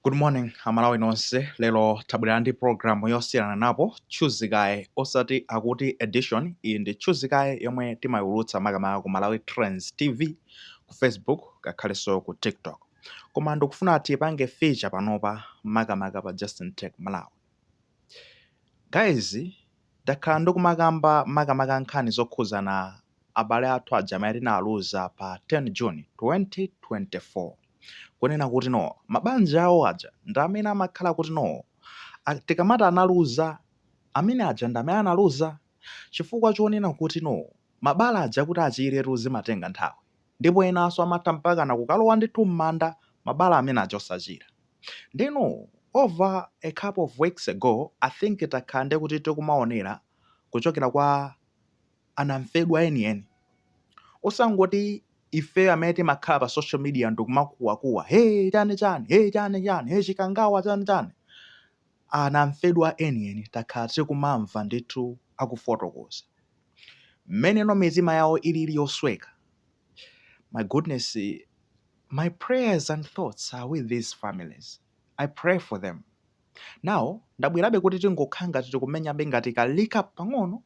Good morning aMalawi nonse lero tabwelera ndi program yosiyananapo tchuzi kaye osati akuti edition iyi ndi tchuzi kaye yomwe timayiulutsa makamaka ku malawi trends tv ku facebook ngakhalenso ku tiktok koma ndikufuna tiyipange feature panopa makamaka pa justin tech malawi guys Ndakhala ndikumakamba makamaka nkhani zokhudzana abale athu aja amene tinawaluza pa 10 June 2024 kunena kuti no mabanja awo aja ndi amene amakhala kuti no a tikamati analuza amene aja ndi amene analuza chifukwa chonena kuti no mabala aja kuti achiretu zimatenga nthawi. Ndipo enanso amatha mpakana kukalowa ndithu mmanda mabala amene aja osachira. Ndeno over a couple of weeks ago I think takhala ndi kuti tikumaonera kuchokera kwa anamfedwa enieni. Osangoti ifeyo amene timakhala pa social media ndikumakuwakuwa hey chani chani hey chani chani hey chikangawa chani chani. Anamfedwa enieni takhala tikumamva ndithu akufotokoza. Mmene no mitima yawo ilili yosweka, my goodness, my prayers and thoughts are with these families, I pray for them. Now ndabwerabe kuti tingokhala ngati tikumenyabe ngati ka recap pang'ono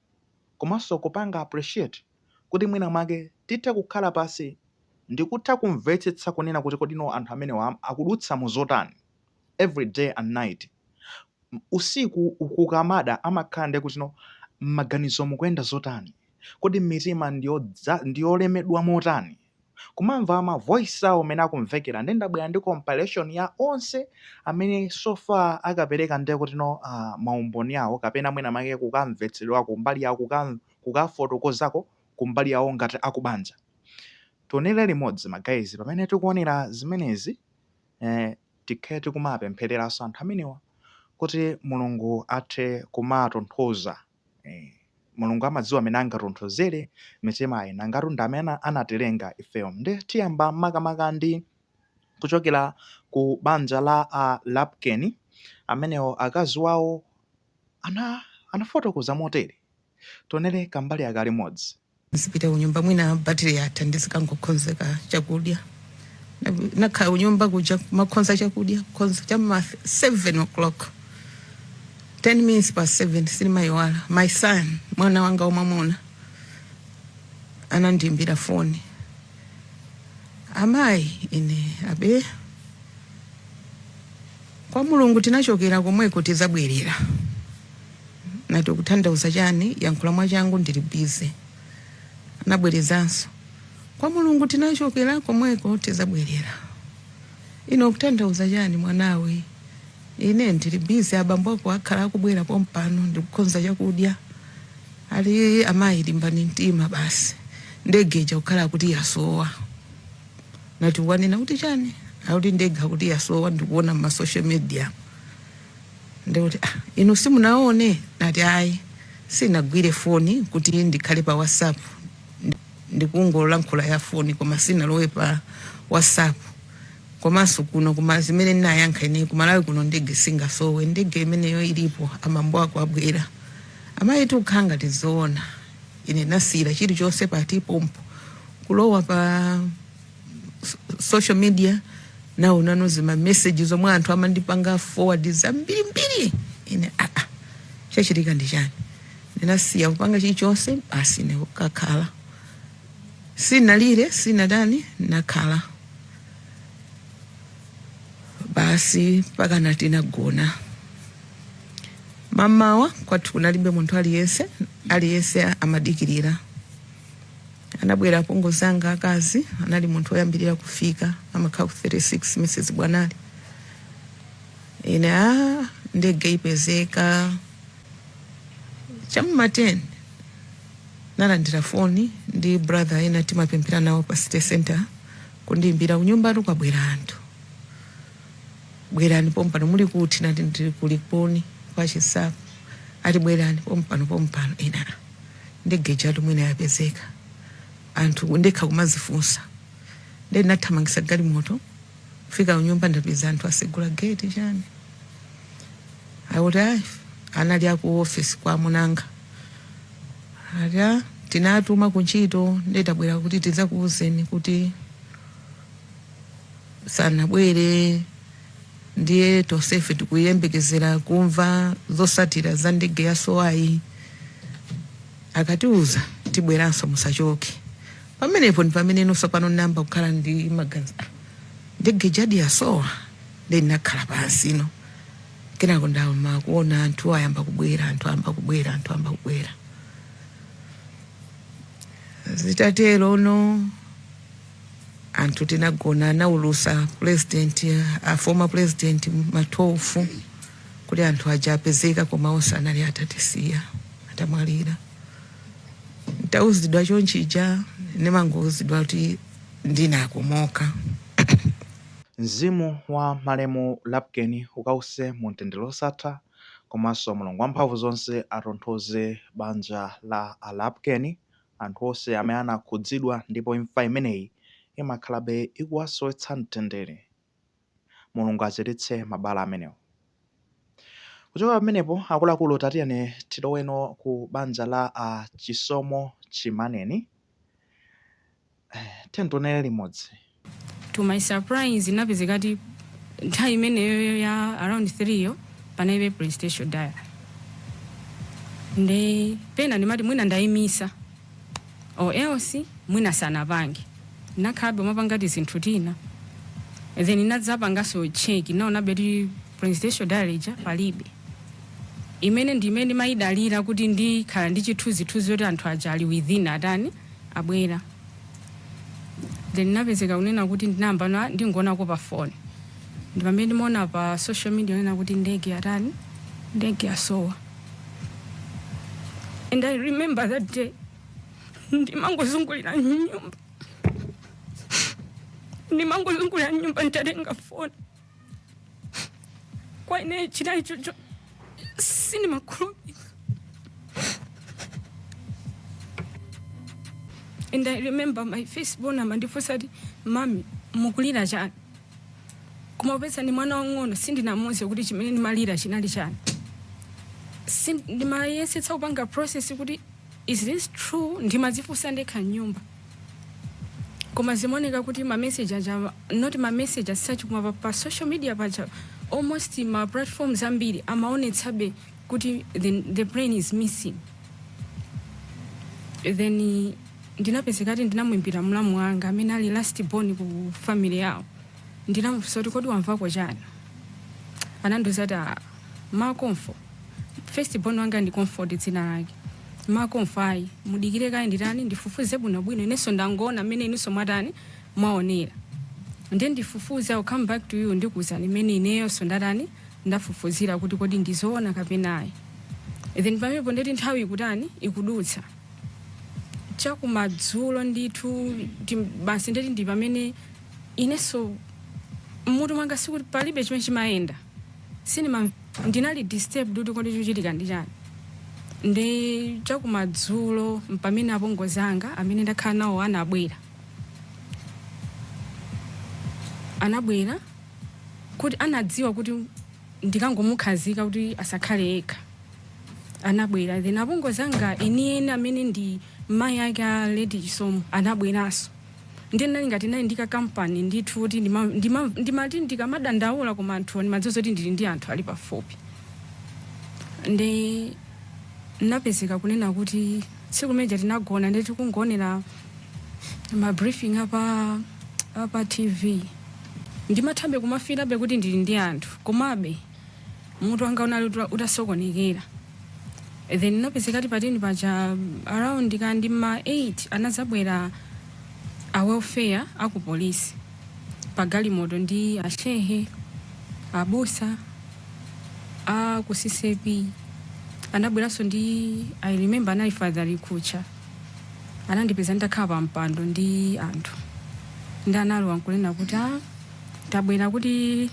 komanso kupanga appreciate kuti mwina mwake tithe kukhala pansi ndikutha kumvetsetsa kunena kuti kodi no anthu amenewa akudutsa mu zotani every day and night usiku kukamada amakhala ndi kuti no mmaganizo mukuyenda zotani kodi mmitima ndiyolemedwa motani kumamva ma voice awo mmene akumvekera nde ndabwera ndi compilation ya onse amene so far akapereka ndi kuti no maumboni awo kapena mwina make kukamvetsedwa kumbali yawo kukafotokozako kumbali yawo ngati akubanja tionere limodzi ma guys pamene tikuonera zimenezi eeh tikhale tikumawapemphereranso anthu amenewa kuti Mulungu athe kumawatonthoza eeh. Mulungu amadziwa mmene angatonthozere mitimayi nangatu ndi amene anatilenga ifeyo. Ndiye tiyamba makamaka ndi kuchokera ku banja la a Lapken, amenewo akazi wawo anafotokoza motere. Tionere kambali aka limodzi. Nizipita kunyumba mwina battery yatha ndizikangokhonzeka chakudya nakhala kunyumba kuja kumakhonza chakudya kukhonza cha ma 7 o'clock 10 mins past 7 sinimayiwala my son mwana wanga wamwamuna anandimbira foni amayi ine abe kwa mulungu tinachokera komweko tizabwerera Nati, Ukutanthauza chani? Yankhula mwachangu ndili busy. Anabwerezanso, Kwa Mulungu tinachokera, komweko tizabwerera. Iwe ukutanthauza chani mwanawe? Ine ndili busy, abambo ako akhala akubwera pompano ndikukhonza chakudya. Ali, Amayi limbani mtima basi. Ndege ija ikukhala ngati yasowa. Nati, Wanena kuti chani? Akuti ndege akuti yasowa ndikuona mma social media. ndikuti ah, inu simunaone nati ayi sinagwire foni kuti ndikhale pa whatsapp Ndi- ndikungolankhula ya foni koma sinalowe pa whatsapp komanso kuno kuma zimene ndinayankha ine kumalawi kuno ndege singasowe ndege imeneyo ilipo abambo ako abwera amayi zikukhala ngati zoona ine ndinasiyira chilichonse pati pompo kulowa pa social media naona nano zima message zomwe anthu amandipanga forward zambirimbiri ine aa ah, ah, chachitika ndi chani ndinasiya kupanga chilichonse basi nkukakhala sinalire sinatani nakhala basi mpaka night nagona mamawa kwathu kunalibe munthu aliyense aliyense amadikirira Anabwera apongozi anga akazi, anali munthu woyambirira kufika, amakhala ku 36 Mrs Bwanali. Ine aa ndege ipezeka chamma 10 nalandira foni ndi brother ena timapemphera nawo pa city center kundiimbira kunyumbatu kwabwera anthu bwerani pompano muli kuti nati ndili ku Likuni kwa Chinsapo ati bwerani pompano pompano ine ndege ijatu mwina yapezeka nanga ndekha kumazifunsa nde ndinathamangisa galimoto kufika kunyumba ndapeza anthu asegula gate chani akuti ayi anali aku office kwa mamuna wanga ati "Ah, atituma kuntchito ndetabwera kuti tidzakuuzeni kuti sanabwere ndiye tonsefe tikuyembekezera kumva zosatira za ndege yasowayi akatiuza tibweranso musachoke pamenepo ndi pamene inenso pano nayamba kukhala ndi maganizo "Ah, ndege ijadi yasowadi ndinakhala pansi no kenako ndayamba kuona anthu ayamba kubwera anthu ayamba kubwera anthu ayamba kubwera zitatero no anthu tinagona anaulusa president a former president matofu kuti anthu aja apezeka koma onse anali atatisiya atamwalira ntauzidwa chonchija ndimangouzidwa kuti ndinakomoka Mzimu wa malemu Lapukeni ukause mu mtendere wosatha komanso Mulungu wamphamvu zonse atonthoze banja la a Lapukeni anthu onse amene anakhudzidwa ndipo imfa imeneyi imakhalabe ikuwasowetsa mtendere. Mulungu achiritse mabala amenewo. Kuchoka pamenepo akuluakulu tatiyeni tiloweno ku banja la a Chisomo Chimaneni. Tiyeni tionere limodzi. To my surprise ndinapezeka kuti nthawi imeneyoyo ya around 3 yo panalibe presidential diary nde pena ndimati mwina ndaimisa or else mwina sanapange ndinakhalabe kumapanga tizinthu tina then ndinadzapanganso check ndinaonabe kuti presidential diary ija palibe imene ndi imene ndimayidalira kuti ndikhala ndi chithunzithunzi choti anthu aja ali within atani abwera then ndinapezeka kunena kuti ndinayamba ndangoonako pa phone ndi pamene ndimaona pa social media onena kuti ndege yatani ndege yasowa and i remember that day ndimangozungulira m'nyumba ndimangozungulira m'nyumba nditatenga phone kwa ine chinali shock sindimakhulupirira and i remember my firstborn amandifunsa ati mami mukulira chani koma popeza ndi mwana wang'ono sindinamuuze kuti chimene ndimalira chinali chani Sin- ndimayesetsa kupanga process kuti Is this true? Ndimadzifunsa ndekha mnyumba. Koma zimaoneka kuti ma message aja not ma message as such koma pa, pa social media paja almost ma platforms ambiri amaonetsabe kuti the, the plane is missing. Then eh, ndinapezekati ndinamuimbira mlamu wanga amene ali last born ku family yawo. Ndinamufunsa kuti kodi wamvako chani? Anandiuza kuti ah, ma Komfo, first born wanga ndi Comfort dzina lake. Ma Komfo ayi, mudikire kaye nditani ndifufuze bwinobwino inenso ndangoona mmene inunso mwatani mwaonera. Ndiye ndifufuze I'll come back to you ndikuuzani mmene ineyonso ndatani ndafufuzira kuti kodi ndi zoona kapena ayi. Then pamenepo ndeti nthawi ikutani ikudutsa chakumadzulo ndithu tim- basi ndeti ndi pamene inenso mmutu mwanga sikuti palibe chimene chimayenda sinima ndinali disturbed kuti kodi chikuchitika ndi chani ndi chakumadzulo mpamene apongozi anga amene ndimakhala nawo anabwera anabwera kuti anadziwa kuti ndikangomukhazika kuti asakhale yekha anabwera then apongozi anga enieni amene ndi mayi ake a lady chisomo anabweranso Ndiye ndinali ngati ndinali ndi ka company ndithu kuti ndima, ndima, ndimati ndikamadandaula koma anthuwa ndimadziwa zoti ndili ndi anthu ali pafupi. Nde ndinapezeka kunena kuti tsiku limeja tinagona ndi tikungoonera ma briefing apa apa TV. Ndimathabe kumafilabe kuti ndili ndi anthu komabe mutu wanga unali uta- utasokonekera then ndinapezeka ti patani paja around ka ndi ma 8 anadzabwera a welfare aku polisi pa galimoto ndi ashehe abusa a ku CCAP anabweranso ndi i remember anali father likucha anandipeza nditakhala pa mpando ndi anthu nde analowa nkunena kuti "Ah, tabwera kuti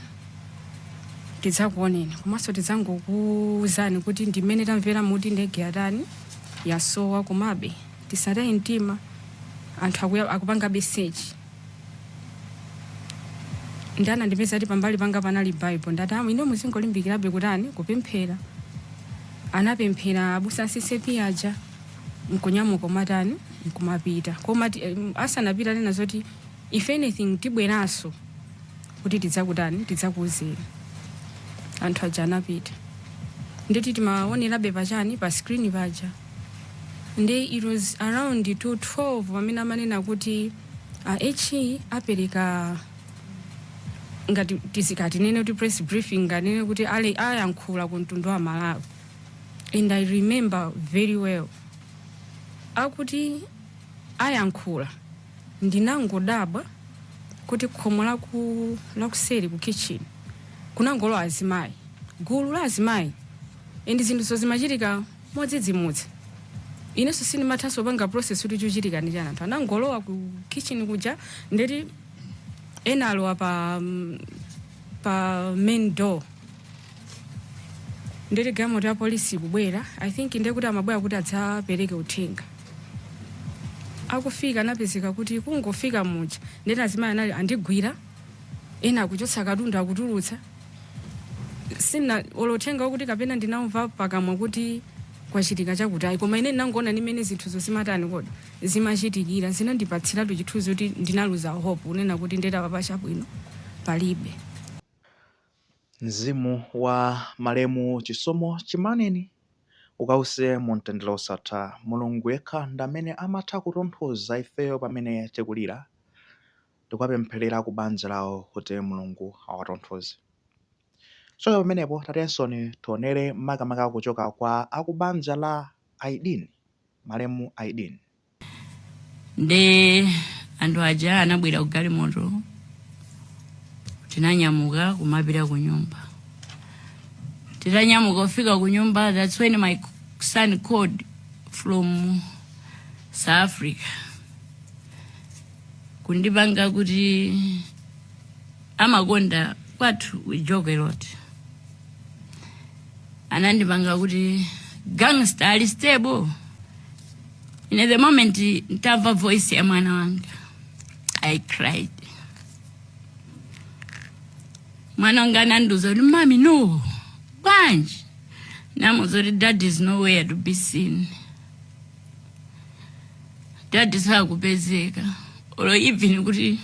tidzakuoneni komanso tidzangokuwuzani kuti ndi mmene tamvera muti ndege yatani yasowa komabe tisataye mtima anthu akuya- akupangabe search nde anandipeza ati pambali panga panali bible ndati amu ine muzingolimbikirabe kutani kupemphera anapemphera abusa a CCAP aja nkunyamuka kumatani nkumapita koma ti- em, asanapita nena zoti if anything tibweraso kuti tidzakutani tidzakuuzeni anthu aja anapita ndeti timawaonerabe pachani pa screen paja nde it was around to 12 pamene amanena kuti a HE apereka ngati tisati tinene kuti press briefing ndinganene kuti ale ayankhula ku mtundu wa malawi and i remember very well akuti ayankhula ndinangodabwa kuti khomo laku lakuseri ku kitchen kunangolowa azimayi gulu la azimayi and zinthuzo zimachitika modzidzimutsa inenso sindimathanso panga process kuti chikuchitika ndi chani anthu anangolowa ku kitchen kuja ndeti ena alowa pa mm, pa main door ndeti galimoto ya polisi ikubwera i think ndekuti amabwera kuti adzapereke uthenga akufika anapezeka kuti kungofika muja ndena azimayi anali andigwira ena akuchotsa katundu akutulutsa sina olothenga okuti kapena ndinamva pakamwa kuti kwachitika chakuti ayi koma ine ndinangoona mmene zinthuzo zimatani kodi zimachitikira zinandipatsiratu chithunzi kuti ndinaluza hope kunena kuti nde apapa chabwino palibe Mzimu wa malemu Chisomo Chimaneni ukause mu mtendere wosatha. Mulungu yekha ndi amene amatha kutonthoza ifeyo pamene tikulira. Tikuwapempherera ku banja lawo kuti Mulungu awatonthoze. Kuchoka pamenepo tatiyensoni tionere makamaka kuchoka kwa akubanja la Aidini, malemu Aidini. nde anthu aja anabwera ku galimoto tinanyamuka kumapita ku nyumba titanyamuka kufika ku nyumba that's when my son called from south africa kundipanga kuti amakonda kwathu we joke a lot anandipanga kuti gangster ali stable In the moment ntamva voice ya mwana wanga I cried. Mwana wanga anandiuza kuti mami no bwanji namuuza kuti dad is nowhere to be seen. Dad sakupezeka or even kuti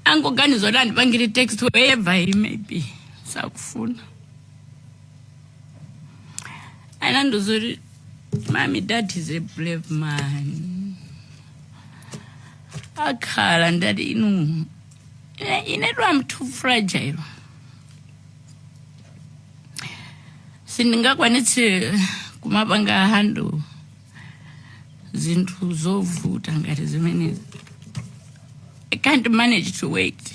angoganiza kuti andipangire text wherever he may be sakufuna anandiuza kuti Mommy, dad is a brave man. Akhala ndithu inu. Ine, ine ndiye I'm too fragile. Sindingakwanitse kumapanga handle zinthu zovuta ngati zimene. I can't manage to wait.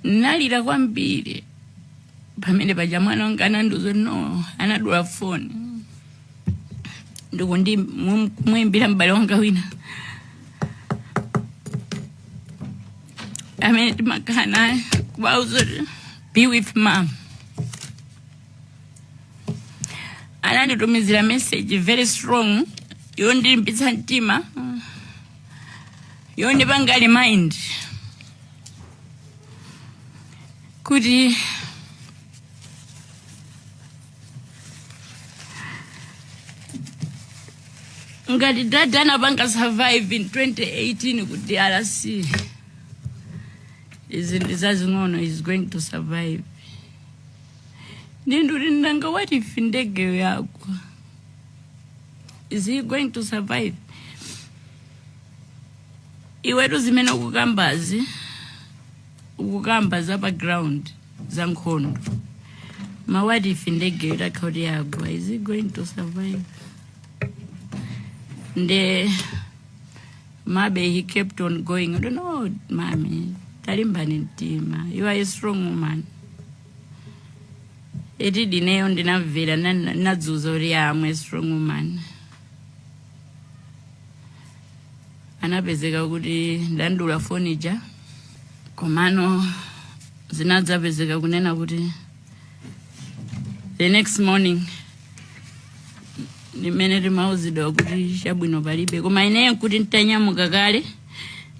Nalira kwambiri. pamene paja mwana wanga anandiuza no anadula foni ndikundi kumwimbira m'bale wanga wina amene timakhala naye kumuuza kuti be with mom ananditumizira message very strong yondilimbitsa mtima yondipanga remind kuti ngati dada anapanga survive in 2018 ku drc izi ndi zazing'ono is going to survive nde ndikuti nanga what if ndegeyo yagwa is he going to survive iwetu zimene ukukambazi ukukamba za pa ground za nkhondo ma what if ndege itakhala kuti yagwa is he going to survive nde maybe he kept on going i don't know mami talimbani mtima you are a strong woman eti ineyo ndinamvera nana- ndinadziuza kuti ya I'm a strong woman ndinapezeka kuti ndadula foni ija komano zinadzapezeka kunena kuti the next morning ndimene timauzidwa kuti chabwino palibe koma ineyo nkuti ntanyamuka kale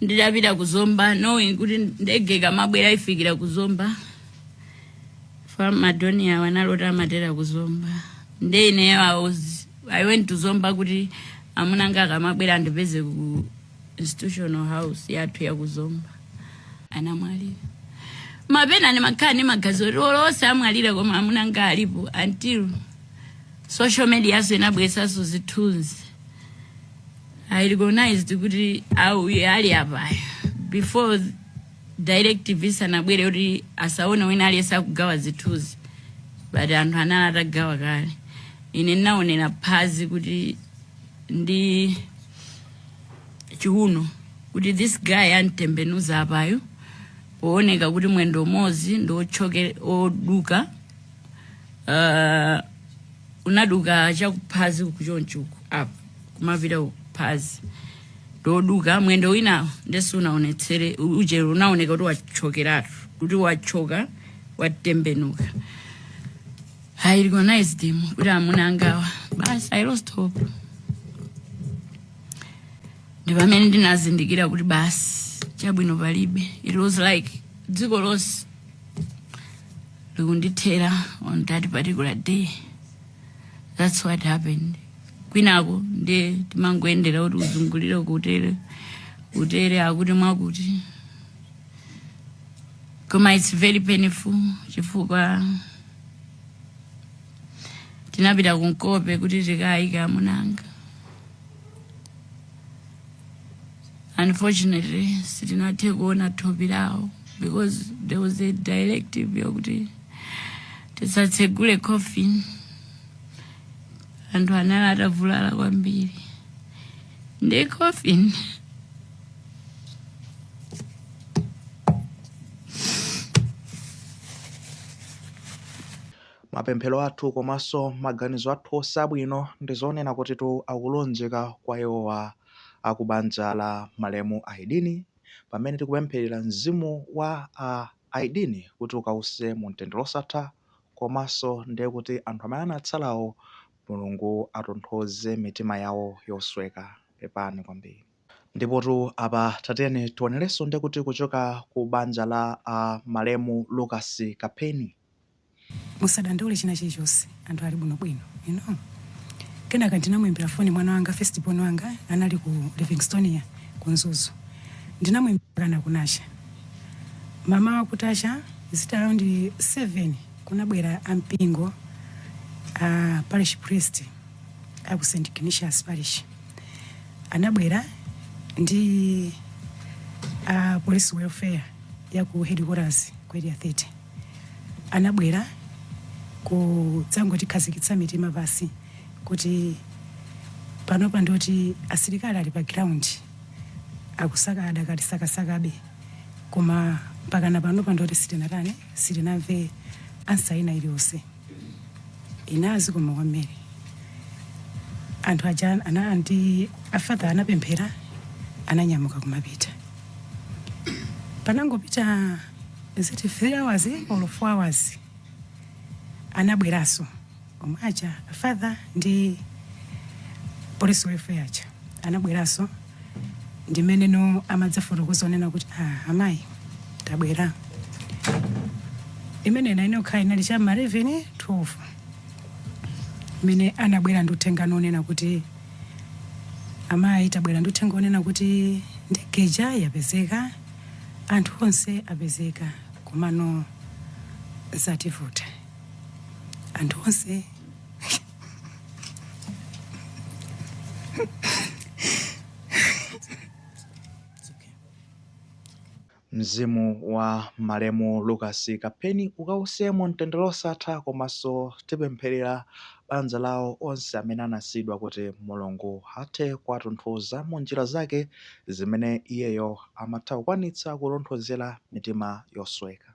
ndidapita ku zomba knowing kuti ndege ikamabwera ifikira ku zomba fa madoni awo analoti amatera ku zomba nde ineyo I was- i went to zomba kuti amuna anga akamabwera andipeze ku institutional house yathu ya ku zomba anamwalira mwapena ndimakhala ndi maganizo oti olo onse amwalira koma amuna anga alipo until social media yanso inabweretsanso zithunzi I recognized kuti au iye ali apa before directive isanabwere kuti asaoneke wina aliyense akugawa zithunzi but anthu anali atagawa kale ine ndinaonera phazi kuti ndi chiuno kuti this guy amtembenuza apayu pooneka kuti mwendo umodzi ndi othyoka oduka uh, unaduka chakuphazi uku chonchi uku apo kumapita uku phazi ndoduka mwendo winawo nde sunaonetse u- ujero unaoneka kuti wachokeratu kuti wachoka watembenuka i recognized him kuti amuna angawa basi i lost hope ndi pamene ndinazindikira kuti basi chabwino palibe it was like dziko lonse likundithera on that particular day that's what happened kwinako ndiye timangoyendera kuti uzungulire kutere kutere akuti mwakuti koma it's very painful chifukwa tinapita kunsipe kuti tikayike amunanga unfortunately sitinathe kuona thupi lawo because there was a directive yokuti tisatsegule coffin anthu anali atavulala kwambiri ndi coffin Mapemphero athu komaso maganizo athu onse abwino ndizonena kutitu akulunjika kwa iwowa akubanja la malemu Aidini pamene tikupempherera mzimu wa a Aidini kuti ukause mumtendere osatha komaso ndiye kuti anthu amene anatsalawo Mulungu atonthoze mitima yawo yosweka. Pepani kwambiri. Ndipotu apa tatiyeni tionereso ndekuti kuchoka ku banja la a malemu Lucas Kapeni. Musadandaule china chilichonse anthu ali bwino bwino you know. Kenaka ndinamuimbira foni mwana wanga first born wanga anali ku Livingstonia ku Mzuzu. Ndinamuimbira nkunacha. Mamawa kutacha is it around 7 kunabwera ampingo a parish priest a ku St Ignatius parish anabwera ndi a police welfare ya ku headquarters ku area 30 anabwera kudzangotikhazikitsa mitima pansi kuti panopa ndoti asilikali ali pa ground akusaka adakalisakasakabe koma mpakana panopa ndoti sitinatani sitinamve ansa ina iliyonse inazi koma kwambiri anthu aja aja ndi a father anapemphera ananyamuka kumapita panangopita is it 3 hours or 4 hours anabweraso omwe aja a father ndi police welfare aja anabweraso ndimene ano amadzafotokoza onena kuti ah, amayi tabwera imene ina inokhala inali cha m'ma 11 12 imene anabwera ndi uthenga wonena kuti amayi tabwera ndi uthenga onena kuti ndege ija yapezeka Anthu onse apezeka komano zativuta. Anthu onse Mzimu wa malemu Lucas Kapeni ukause mu mtendere wosatha komanso tipempherera banja lawo, onse amene anasiyidwa kuti Mulungu athe kuwatonthoza mu njira zake. zimene iyeyo amatha kukwanitsa kutonthozera mitima yosweka.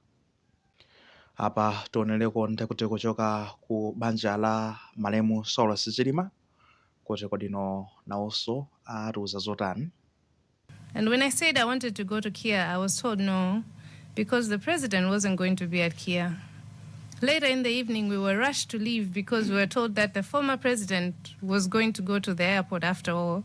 Apa tionereko nde kuti kuchoka ku banja la malemu Saulos Chilima kuti kodino nawonso atiuza zotani. And when I said I wanted to go to Kia, I was told no, because the president wasn't going to be at Kia. Later in the evening, we were rushed to leave because we were told that the former president was going to go to the airport after all.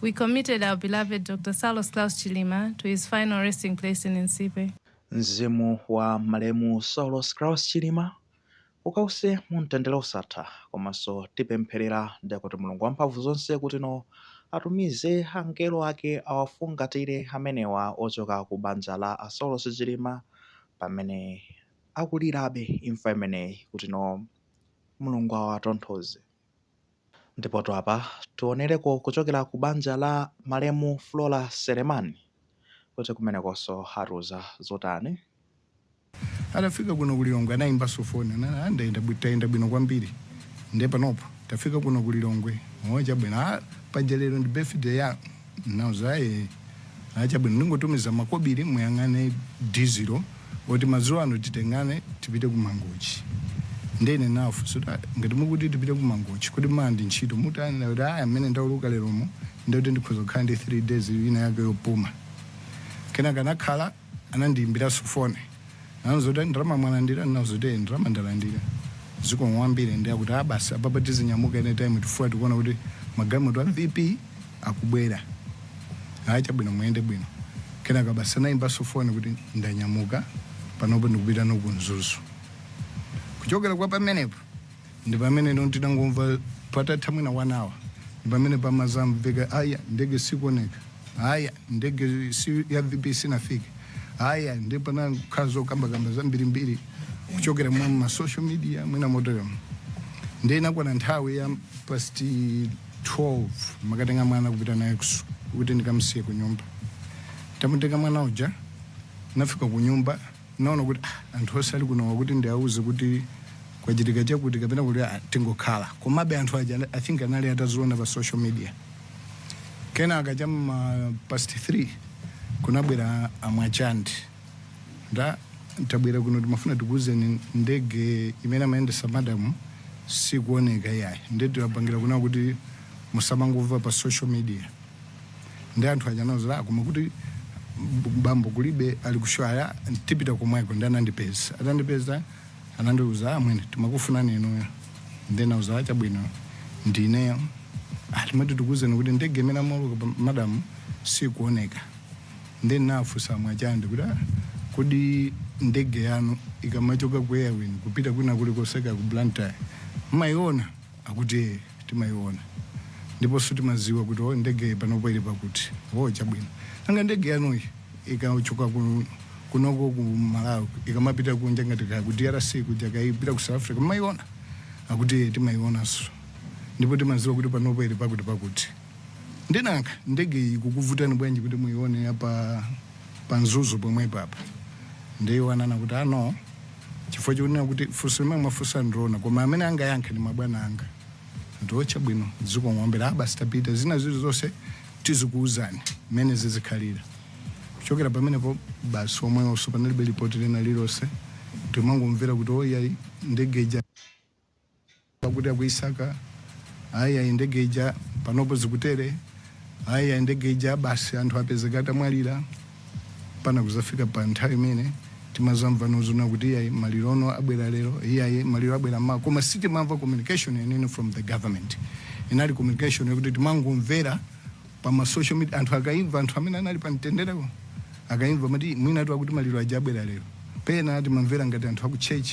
We committed our beloved Dr. Saulos Klaus Chilima to his final resting place in Nsipe. Mzimu wa malemu Saulos Klaus Chilima ukause mu mtendere osatha komanso tipempherera ndi kuti Mulungu wamphamvu zonse kutino atumize angelo ake awafungatire amenewa ochoka ku banja la a Saulos Chilima pamene akulirabe imfa imeneyi kutino Mulungu awatonthoze. Ndipotu apa tionereko kuchokera ku banja la malemu Flora Selemani kuti kumenekonso atiuza zotani. Atafika kuno ku Lilongwe anaimbanso foni anati, ah, ndayenda bwi- tayenda bwino kwambiri nde panopo tafika kuno ku Lilongwe. Oh, chabwino. Ah, paja lero ndi birthday ya Ndinauza ayi ayi chabwino ndingotumiza makobiri muyang'ane dizilo oti madzulo ano titengane tipite ku mangochi nde ine nafunsa kuti "Ah, ngati mukuti tipite ku mangochi kodi mawa ndi ntchito mutani kuti aya mmene ndauluka leromo ndekuti ndikhoza kukhala ndi 3 days ina yake yopuma kenaka nakhala anandiyimbilaso phone anandiuza kuti ndalama mwalandila ndinauza kuti ee ndalama ndalandila zikomo kwambiri ndiye akuti aa basi apapa tizinyamuka anytime chifukwa tikuona kuti magalimoto a vp akubwera aa chabwino muyende bwino kenaka basi anayimbaso phone kuti ndanyamuka panopo ndikupita no ku mzuzu kuchokera kwa pamenepo ndipamene no tidangomva patatha mwina 1 hour ndipamene pamazamveka aya ndege sikuoneka aya ndege si ya vp sinafike aya ndi panakhala zokambakamba zambirimbiri kuchokera mwa ma social media mwina motoyomo nde inakwana nthawi ya past 12 ndimakatenga mwana kupita naye kusu- kuti ndikamsiye ku nyumba tamutenga mwana uja nafika ku nyumba naona kuti ah, anthu onse ali kunowa kuti ndiauze kuti kwachitika chakuti kapena kuti ah, tingokhala komabe anthu aja i think anali ataziona pa social media kenaka cha ma past 3 kunabwera amwachandi nde tabwera kuno timafuna tikuuzeni ndege imene amayendesa madamu sikuoneka yayi ndetiwapangira kuna kuti musamangomva pa social media nde anthu aja anauza ah, koma kuti bambo kulibe ali kushwaya tipita komweko ndi anandipeza atandipeza anandiuza amwene ah, timakufunani inuyo ndi nauza ah chabwino ndineyo atimati tikuuzeni kuti ndege imene amauluka madamu sikuoneka ndi nafunsa mwachandi kuti kodi ndege yanu ikamachoka ku airwing kupita kwina kuli koseka ku blantyre mmayiona akuti ee timayiona ndiponso timaziwa kuti o ndege panopo ili pakuti o chabwino nanga ndege yanuyi ikachoka ku kunoko ku malawi ikamapita kunja ngati kaya ku drc kuja ikapita ku south africa mmayiona akuti ee timayionanso ndipo timaziwa kuti panopo ili pakuti pakuti nde nanga ndege iyi ikukuvutani bwanji kuti muyione apa pa mzuzu pomwe pompa ndiye iwo ananena kuti ah no chifukwa chonena kuti funso limene mwafunsa ndi loona koma amene angayankhe ndi mabwana anga nde o chabwino zikomo mbiri ah basi tapita zina zili zonse tizikuwuzani mmene zizikhalira kuchokera pamenepo basi omwewonso panalibe lipoti lina lilonse timangomvera kuti oyayi ndege ija Pakuti akuyisaka, ayi, ayi, ndege ija, panopo zikutere, ayi, ayi, ndege ija, basi anthu apezeka atamwalira, mpaka kuzafika pa nthawi imene timazamvano zonena kuti iyayi maliro no abwera lero, iyayi maliro abwera mmawa, koma sitimamva communication yeniyeni from the government. Inali communication yokuti timangomvera pa ma social media anthu akaimva anthu amene anali pa mtendereko akaimva amati amwene tu akuti maliro aja abwera lero pena timamvera ngati anthu aku church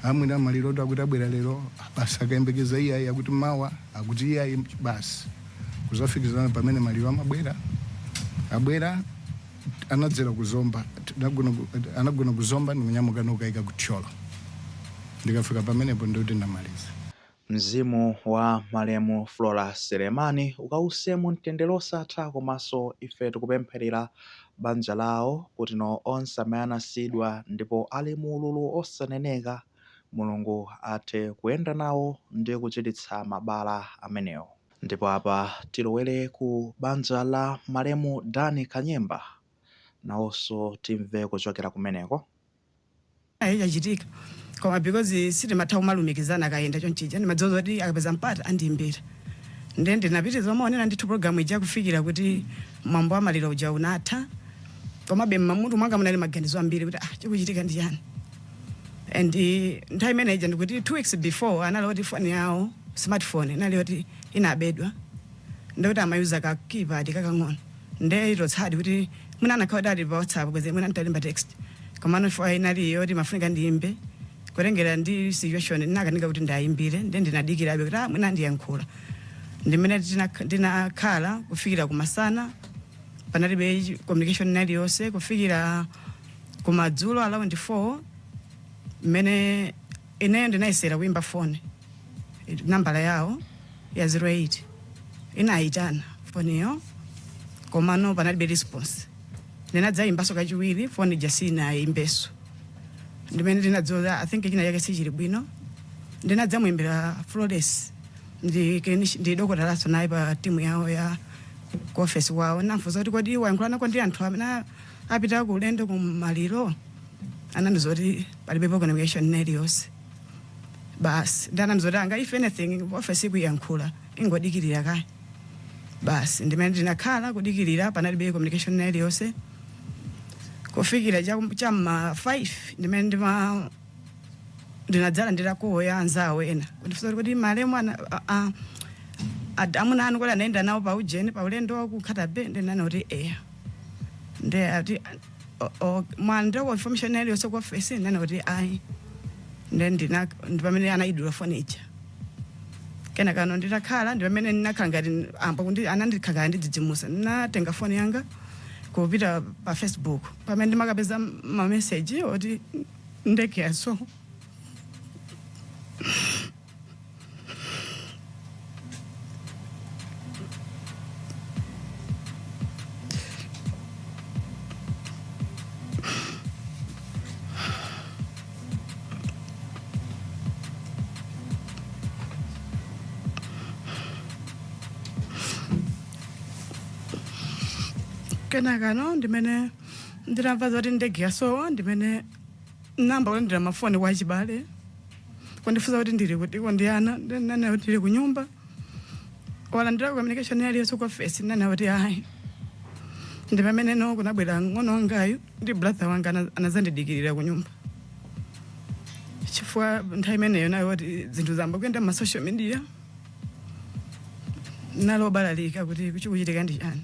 amwene maliro tu akuti abwera lero basi tikayembekeza iyayi akuti mawa akuti iyayi basi kuzafikira pamene maliro amabwera abwera anadzera kuzomba anagona ku- anagona kuzomba ndikunyamuka nkukaika ku thyolo ndikafika pamenepo ndikuti ndamaliza Mzimu wa malemu Flora Selemani ukause mumtendere wosatha komanso ife tikupempherera banja lawo kuti onse amene anasiyidwa ndipo ali mu ululu osaneneka Mulungu athe kuyenda nawo ndi kuchiritsa mabala amenewo. Ndipo apa tilowere ku banja la malemu Dan Kanyemba nawonso timve kuchokera kumeneko. chachitika koma because sitimatha kumalumikizana akayenda chonchija ndimadziwa zoti akapeza mpata andiimbira nde ndinapitiriza kumaonera ndithu program ija kufikira kuti mwambo wa maliro uja unatha komabe mmutu mwanga munali maganizo ambiri kuti ah chikuchitika ndi chani and eh, nthawi imene ija ndikuti two weeks before anali oti foni yawo smartphone inali oti inabedwa nde kuti amayuza ka keypad kakang'ono nde it was sad kuti mwina akanakhala kuti ali pa whatsapp bwezi mwina ntalemba text komano chifukwa inali yokuti mafunika ndiyimbe kutengera ndi situation ndinakanika kuti ndiwayimbire nde ndinadikirabe kuti ah, mwina andiyankhula ndimene tinak- ndinakhala kufikira kumasana panalibe chi- communication inali yonse kufikira kumadzulo around 4 mmene ineyo ndinayesera kuyimba foni nambala yawo ya 08 inayitana foniyo komano panalibe response ndinadzayimbanso kachiwiri foni ija sinayimbenso ndimene ndinadziwa i think china chake sichili bwino ndinadzamuyimbira Florence ndi clinic- ndi dokotalanso naye pa timu yawo ya ku ofesi wawo namfunsa kuti kodi wayankhulanako ndi anthu amene a- apita ku ulendo ku maliro anandiuza kuti palibe communication ina iliyonse basi ndinamuuza kuti kanga if anything office ikuyankhula, ingodikirira kaye basi ndimene ndinakhala kudikirira panalibe communication ina iliyonse kufikira cha- cha ma 5 ndimene ndima ndinadzalandira call ya anzawo ena kundifunsa kuti kodi malemu ana a- a- ad- amuna anu kodi anayenda nawo pa ujeni pa ulendo wa ku Nkhata Bay ndinanena kuti eya nde ati o- o- mwalandirako information iliyonse ku ofesi ndinanena kuti ayi nde ndina ndi pamene anayidula foni ija kenakano nditakhala ndi pamene ndinakhala ngati amwo kuti anandikhalanga ndidzidzimuka ndinatenga foni yanga kupita pa facebook pamene ndinakapeza mameseji oti ndege yaso kenakano ndimene ndinamva zoti ndege yasowa ndimene ndinayamba kulandira mafoni kwa achibale kundifunsa kuti ndili kutiko ndi ana ndinanena kuti ndili kunyumba walandirako communication iliyonse ku ofesi ndinanena kuti ayi ndi pameneno kunabwera ng'ono wangayu ndi brother wanga ana- anazandidikirira kunyumba chifukwa nthawi imeneyo inali yoti zinthu zayamba kuyenda m'ma social media ndinali obalalika kuti chikuchitika ndi chani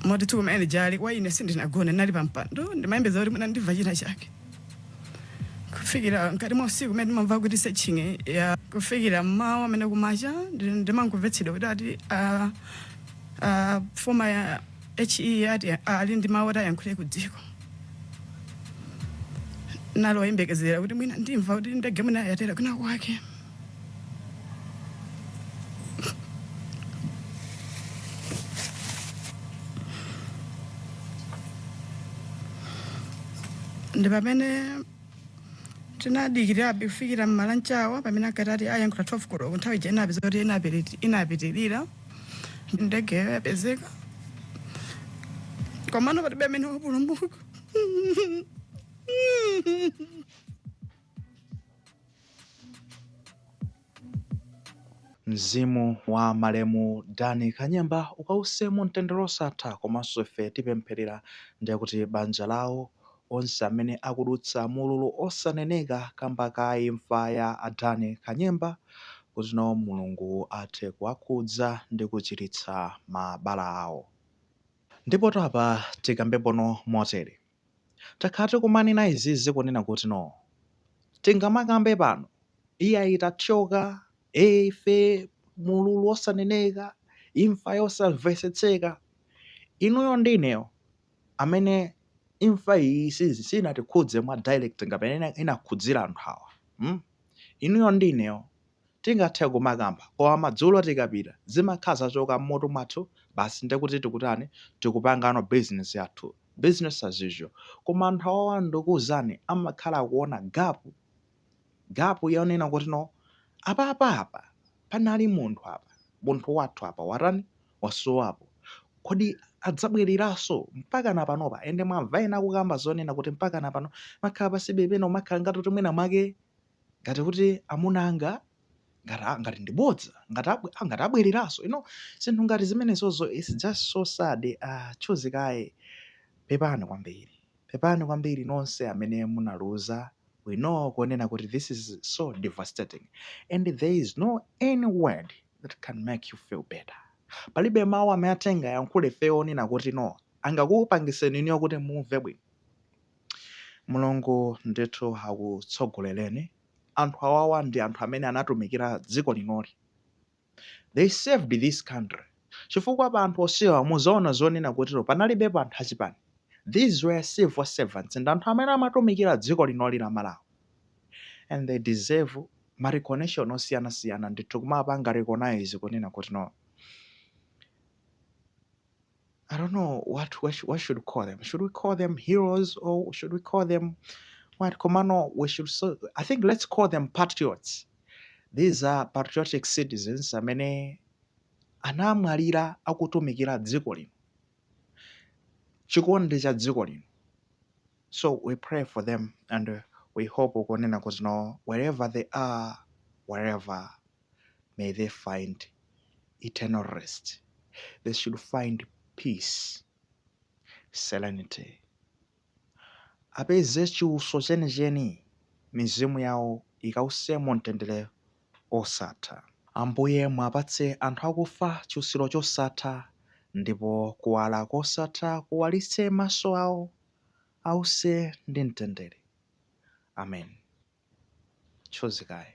Moti tsiku limene lija ine kwa ine sindinagone, ndinali pampando ndimayembekezera kuti mwina ndimva china chake kufikira mkati mwa usiku umene ndimamva kuti searching ya kufikira mmawa amene kumacha ndi- ndimangomvetsedwa kuti ati ah, ah, former HE ati ali ndi mawu oti ayankhule ku dziko ndinali oyembekezera kuti mwina ndimva kuti ndege mwina yatera kwina kwake ndi pamene tinadikirabe kufikira m'mawa mwake pamene ankati ati ayankhula 12 koloko nthawi ija inapezeka kuti inapiti- inapitirira ndegeyo yapezeka komano palibe amene wapulumuka Mzimu wa malemu Dan Kanyemba ukause mu mtendere osatha komanso ife tipempherera ndiye kuti banja lawo, onse amene akudutsa mu ululu osaneneka kamba ka imfa ya a Dan Kanyemba kuti nawo Mulungu athe kuwakhudza ndi kuchiritsa mabala awo. Ndipotu apa tikambepono motere. Takhala tikumanena izizi kunena kuti no tingamakambe pano iyayi tathyoka ee ife mululu osaneneka imfa yosamvetsetseka inuyo ndi ineyo amene imfa iyi si sinatikhudze mwa direct ngati mmene inakhudzira anthu awa mm inuyo ndi ineyo Tingathe kumakamba koma madzulo tikapita zimakhala zachoka mmutu mwathu basi ndiye kuti tikutani tikupangano business yathu business as usual koma anthu awawa ndukuuzani amakhala akuona gap gap yonena kuti no apapa apa panali munthu apa munthu wathu apa watani wasowapo kodi adzabwereranso mpakana panopa ende mwamva ena akukamba zonena kuti mpakana pano makhala pansibe pena umakhala ngati kuti mwina mwake ngati kuti amuna anga ngati ah, ngati ndi bodza ngati abwe, ah, ngati abwereranso you know zinthu ngati zimenezozo it's just so sad ah choose kaye pepani kwambiri pepani kwambiri nonse amene munaluza we know kunena kuti this is so devastating and there is no any word that can make you feel better palibe mawu amene tingayankhule ife onena kuti no angakupangiseni inuyo kuti mumve bwino Mulungu ndithu akutsogoleleni anthu awawa ndi anthu amene anatumikira dziko linoli they served this country chifukwa pa anthu onsewa muzaona zonena kuti no panalibepo anthu achipani these were civil servants and anthu amene amatumikira dziko linoli la Malawi and they deserve ma recognition osiyana siyana ndithu kumapanga recognize kunena kuti no I don't know what, what, sh- what should we call them. Should we call them heroes or should we call them what? Komano, we should. So, I think let's call them patriots. These are patriotic citizens amene anamwalira akutumikira dziko lino, chikondi cha dziko lino. So we pray for them and uh, we hope ukonena kuti no, wherever they are, wherever may they find eternal rest they should find peace serenity apeze chiuso chenicheni mizimu yawo ikawuse mu mtendere osatha ambuye mwapatse anthu akufa chiusiro chosatha ndipo kuwala kosatha kuwalitse maso awo ause ndi mtendere amen choose kaye